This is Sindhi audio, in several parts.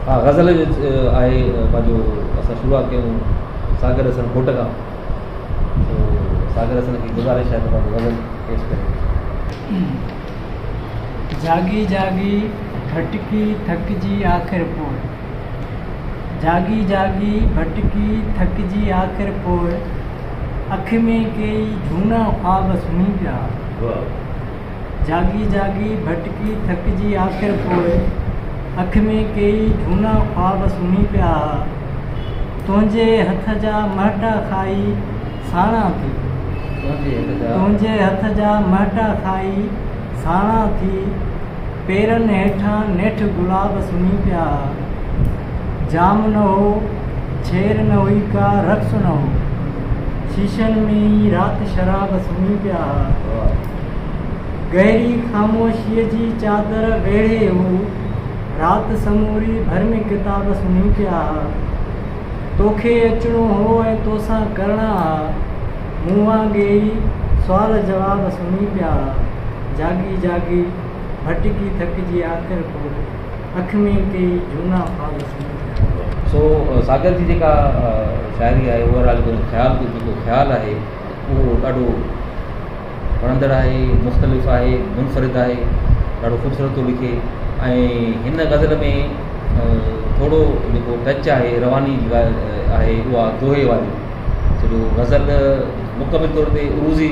ها غزل جو آهي پنهنجو اسان شروعات ڪيون ساگر حسن گهوٽ کان ساگر حسن کي گذارش آهي ته پنهنجو غزل پيش ڪري جاڳي جاڳي ڀٽڪي ٿڪجي آخر پوء جاڳي جاڳي ڀٽڪي ٿڪجي آخر پوء اک ۾ ڪيئي جھونا خواب سمھي پيا جاڳي جاڳي ڀٽڪي ٿڪجي آخر پوء اک ۾ ڪيئي جھونا خواب سمھي پيا ھئا تنھنجي ھٿ جا مھٽا کائي ساڻا ٿي تنھنجي ھٿ جا مھٽا کائي ساڻا ٿي پيرن هيٺان نيٺ گلاب سمهي پيا ها. جام نه هو، ڇير نه هئي ڪا رقص نه هو. شيشن ۾ ئي رات شراب سمهي پيا ها. گهري خاموشيء جي چادر ويڙهي هو. رات سموري ڀرمي ڪتاب سمهي پيا ها. توکي اچڻو هو ۽ توسان ڪرڻا ها. مون وانگي ئي سوال جواب سمهي پيا ها. جاڳي جاڳي. ڀٽڪي ٿڪجي آخر پوء اک ۾ ڪيئي جهونا خواب سمجهي آيا. سو ساگر جي جيڪا شاعري آهي اوور آل جيڪو خيال ٿو جيڪو خيال آهي اهو ڏاڍو وڻندڙ آهي مختلف آهي منفرد آهي ڏاڍو خوبصورت ٿو لکي ۽ هن غزل ۾ ٿورو جيڪو ٽچ آهي رواني جي ڳالهه آهي اها دوهي واري سو جو غزل مڪمل طور تي عروضي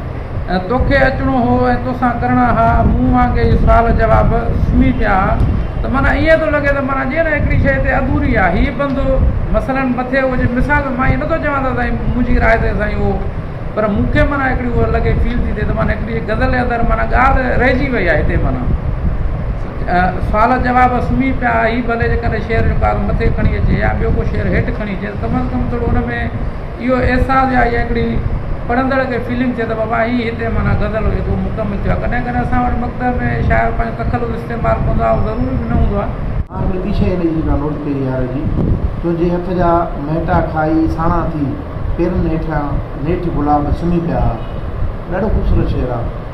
توکي اچڻو هو ۽ توسان ڪرڻا ها مون وانگي اهي سوال جواب سمهي پيا ها ته معنيٰ ائين ٿو لڳي ته معنيٰ جيئن نه هڪڙي شيء هتي اڌوري آهي هيء بندو مثلاً مٿي هو جي مثال مان ائين نٿو چوان ته سائين منهنجي راء تي سائين اهو پر مون کي معنيٰ هڪڙي اهو لڳي فيل ٿي ٿئي ته معنيٰ هڪڙي غزل جي اندر معنيٰ ڳالهه رهجي وئي آهي هتي معنيٰ سوال جواب سمهي پيا ها هي ڀلي جيڪڏهن شعر جو ڪار مٿي کڻي اچي يا ٻيو ڪو شعر هيٺ کڻي اچي ته ڪم از ڪم ٿورو ان ۾ اهو احساس يا اها هڪڙي پڙهندڙ کي فيلنگ ٿئي ته بابا هي هتي معنيٰ غزل هئي ڪو مڪمل ٿيو آهي ڪڏهن ڪڏهن اسان وٽ مڪتب ۾ شاعر پنهنجو تخلص استعمال ڪندو آهي اهو ضروري به نه هوندو آهي. آء به ٻي شيء ڏي ڏسان نوٽ ڪئي يار جي تنهنجي هٿ جا مهٽا کائي ساڻا ٿي پيرن هيٺيان نيٺ گلاب سمهي پيا ها ڏاڍو خوبصورت شعر آهي.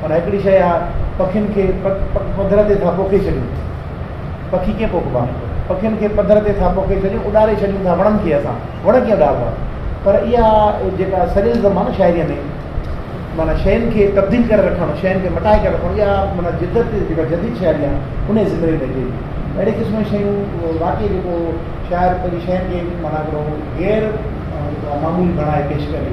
پر هڪڙي شيء آ پکين کي پڌر تي ٿا پوکي ڇڏيون. پکي ڪيئن پوکبا؟ پکين کي پڌر تي ٿا پوکي ڇڏيون، اڏاري ڇڏيون ٿا وڻن کي اسان، وڻ ڪيئن اڏاربا؟ پر اها جيڪا سريلزم آ نه شاعريء ۾ معنيٰ شين کي تبديل ڪري رکڻ، شين کي مٽائي ڪري رکڻ، اها معنيٰ جدت جيڪا جديد شاعري آ انهيء زمري ۾ اچي ٿي. اهڙي قسم جون شيون واقعي جيڪو شاعر پنهنجي شين کي معنيٰ هڪڙو غير معمولي بڻائي پيش ڪري.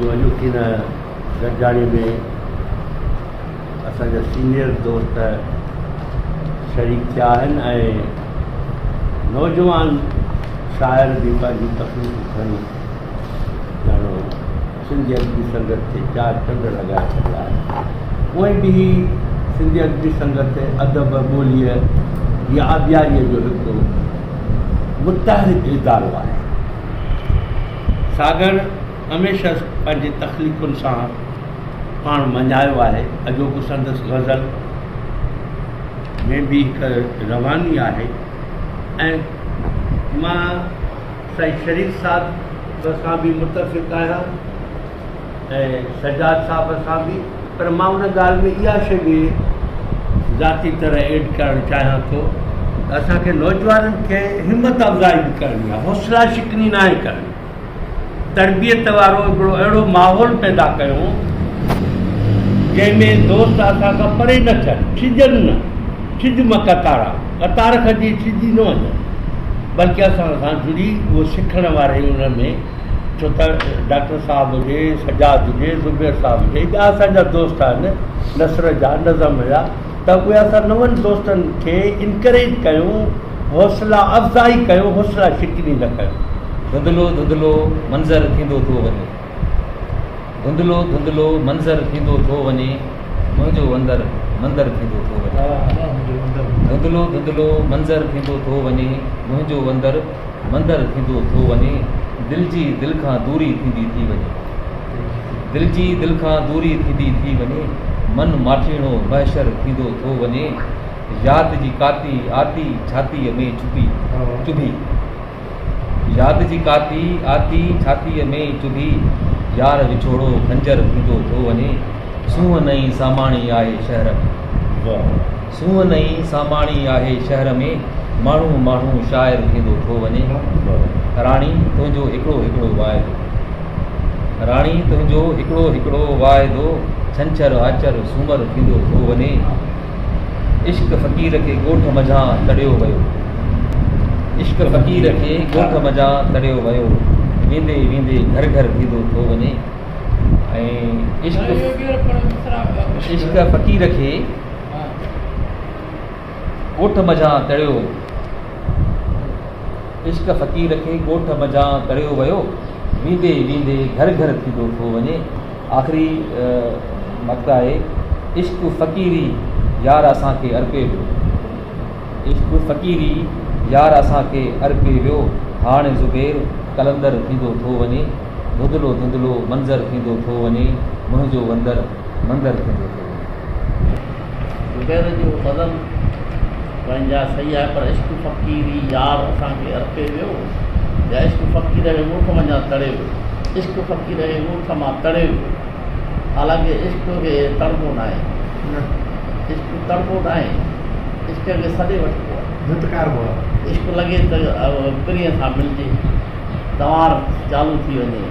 جو اڄوڪي هن گڏجاڻي ۾ اسان جا سينيئر دوست شريڪ ٿيا آهن ۽ نوجوان شاعر به پنهنجون تخليقون کڻي ڄاڻو سنڌي ادبي سنگت کي چار چنڊ لڳائي ڇڏيا آهن اهي به سنڌي ادبي سنگت ادب ٻوليء جي آبياريء جو هڪ متحرڪ ادارو آهي ساگهڙ هميشه پنهنجي تخليقن سان پاڻ مڃايو آهي. اڄوڪو سندس غزل ۾ به هڪ رواني آهي ۽ مان سائين شريف صاحب سان به متفق آهيان. ۽ سجاد صاحب سان به پر مان ان ڳالهه ۾ اها شيء به ذاتي طرح ايڊ ڪرڻ چاهيان ٿو ته اسان کي نوجوانن کي همت افزائي به ڪرڻي آهي حوصلا شڪني ناهي ڪرڻي تربيت وارو هڪڙو اهڙو ماحول پيدا ڪيون جنهن ۾ دوست اسان کان پري نه ٿين ڇڄن نه ڇڄ مان قطارا قطار کجي ڇڄي نه وڃن بلڪه اسان سان جڙي اهو سکڻ واري ان ۾ ڇو ته ڊاڪٽر صاحب هجي سجاد هجي زبير صاحب هجي ٻيا اسانجا دوست آهن نثر جا نظم جا ته اهي اسان نون دوستن کي انڪريج ڪيون حوصلا افزائي ڪيون حوصلا شڪني نه ڪيون ڌنڌلو ڌنڌلو منظر ٿيندو ٿو وڃي ڌنڌلو ڌنڌلو منظر ٿيندو ٿو وڃي منهنجو اندر مندر ٿيندو ٿو وڃي ڌنڌلو ڌنڌلو منظر ٿيندو ٿو وڃي منهنجو اندر مندر ٿيندو ٿو وڃي، دل جي دل کان دوري ٿيندي ٿي وڃي. دل جي دل کان دوري ٿيندي ٿي وڃي، من ماٺيڻو محشر ٿيندو ٿو وڃي، ياد جي ڪاتي آتي ڇاتيء ۾ چڀي، چڀي، ياد جي ڪاتي آتي ڇاتيء ۾ چڀي، يار وڇوڙو خنجر ٿيندو ٿو وڃي، سونهن نئين ساماڻي آهي شهر ۾. سونهن نئين ساماڻي آهي شهر ۾، ماڻهو ماڻهو شاعر ٿيندو ٿو وڃي. راڻي تنهنجو هڪڙو هڪڙو واعدو. راڻي تنهنجو هڪڙو هڪڙو واعدو، ڇنڇر آچر سومر ٿيندو ٿو وڃي. عشق فقير کي ڳوٺ منجهان تڙيو ويو. عشق فقير کي ڳوٺ منجهان تڙيو ويو، ويندي ويندي گهر گهر ٿيندو ٿو وڃي. عشق فقير کي. ڳوٺ منجهان تڙيو ويو عشق فقير کي ڳوٺ منجهان تڙيو ويو ويندي ويندي گهر گهر ٿيندو ٿو وڃي آخري مقطع آهي عشق فقيري يار اسان کي ارپي ويو عشق فقيري يار اسان کي ارپي ويو هاڻي زبير قلندر ٿيندو ٿو وڃي ڌندلو ڌندلو منظر ٿيندو ٿو وڃي منهنجو وندر مندر ٿيندو ٿو وڃي زبير جو غزل پنهنجا صحيح آهي پر عشق فقيري يار اسان کي ارپي ويو يا عشق فقير جي ڳوٺ منجهان تڙي ويو عشق فقير جي ڳوٺ مان تڙي ويو حالانڪه عشق کي تڙبو نه آهي عشق تڙبو نه آهي عشق کي سڏي وٺبو آهي ڌتڪاربو آهي عشق لڳي ته پرينء سان ملجي تنوار چالو ٿي وڃي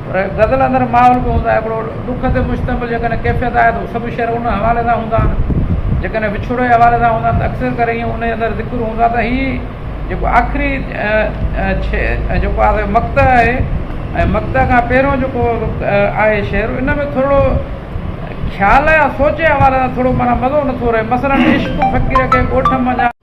پر غزل اندر ماحول به هوندو آهي هڪڙو ڏک تي مشتمل جيڪڏهن ڪيفيت آهي ته هو سڀ شعر ان حوالي سان هوندا آهن جيڪڏهن وڇوڙي جي حوالي سان هوندا آهن ته اڪثر ڪري ائين ان جي اندر ذڪر هوندا ته هي جيڪو آخري جيڪو آهي سو مقطع آهي ۽ مقطع کان پهريون جيڪو آهي شعر ان ۾ ٿورڙو خيال يا سوچ جي حوالي سان ٿورڙو معنيٰ مزو نٿو رهي مثلاً عشق فقير کي ڳوٺ منجهان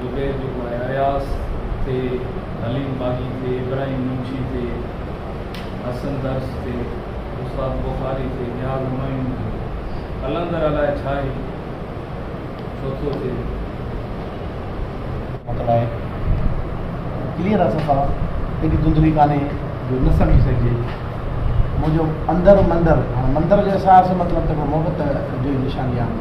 زبير جيڪو آهي اياز تي، حليم باغي تي، ابراهيم منشي تي، حسن درس تي، استاد بخاري تي، نياز همايون تي، قلندر الائي ڇا هي ڇو ٿو ٿئي. مطلب آهي ڪليئر آهي صفا ايڏي ڌنڌلي ڪانهي جو نه سمجهي سگهجي منهنجو اندر مندر هاڻي مندر جو احساس مطلب ته محبت جو ئي نشاني آهي.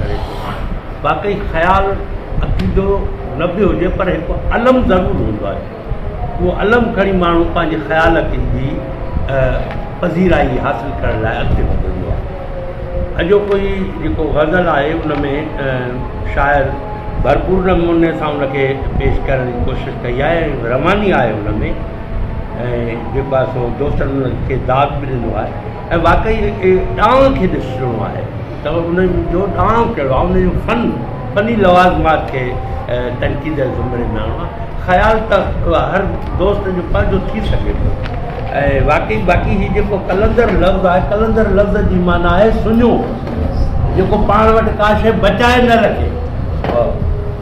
ڪري ٿو آڻي. واقعي خيال عقيدو نه به هجي پر هڪ علم ضرور هوندو آهي. اهو علم کڻي ماڻهو پنهنجي خيال عقيدي جي پذيرائي حاصل ڪرڻ لاء اڳتي وڌندو آهي. اڄوڪو هي جيڪو غزل آهي ان ۾ شاعر ڀرپور نموني سان ان کي پيش ڪرڻ جي ڪوشش ڪئي آهي ۽ رواني آهي ان ۾ ۽ جيڪو آهي سو دوستن کي داد به ڏنو آهي ۽ واقعي اهي ڏانء کي ڏسجڻو آهي ته انهن جو ڏانء ڪهڙو آهي، انهن جو فن، فني لوازمات کي تنقيد جي زمري ۾ آڻڻو آهي. خيال ته هر دوست جو پنهنجو ٿي سگهي ٿو ۽ واقعي باقي هي جيڪو قلندر لفظ آهي، قلندر لفظ جي معنيٰ آهي سڃو، جيڪو پاڻ وٽ ڪا شيء بچائي نه رکي.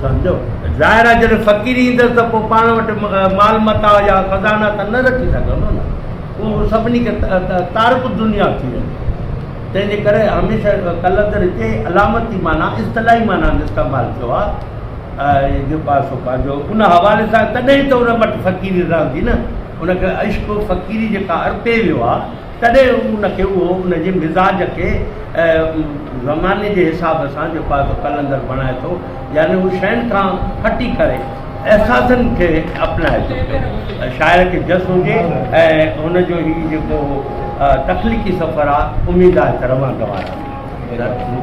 سمجهيو؟ ظاهر آهي جڏهن فقيري ايندس ته پوء پاڻ وٽ مال متاع يا خزانا ته نه رکي سگهندو نه. هو سڀني کي تارڪ الدنيا ٿي ويندو. تنهن جي ڪري هميشه قلندر هتي علامتي معنيٰ، اصطلاحي معنيٰ جو استعمال ٿيو آهي ۽ جو پاسو پنهنجو ان حوالي سان تڏهن ئي ته ان وٽ فقيري رهندي نه. ان کي عشق و فقيري جيڪا ارپي ويو آهي، تڏهن ان کي اهو ان جي مزاج کي زماني جي حساب سان جو پاسو قلندر بڻائي ٿو، يعني هو شين کان هٽي ڪري احساسن کي اپنائي ٿو پيو. شاعر کي جس هجي ۽ هن جو هي جيڪو تخليقي سفر آ اميد آهي ته روان دوار آ.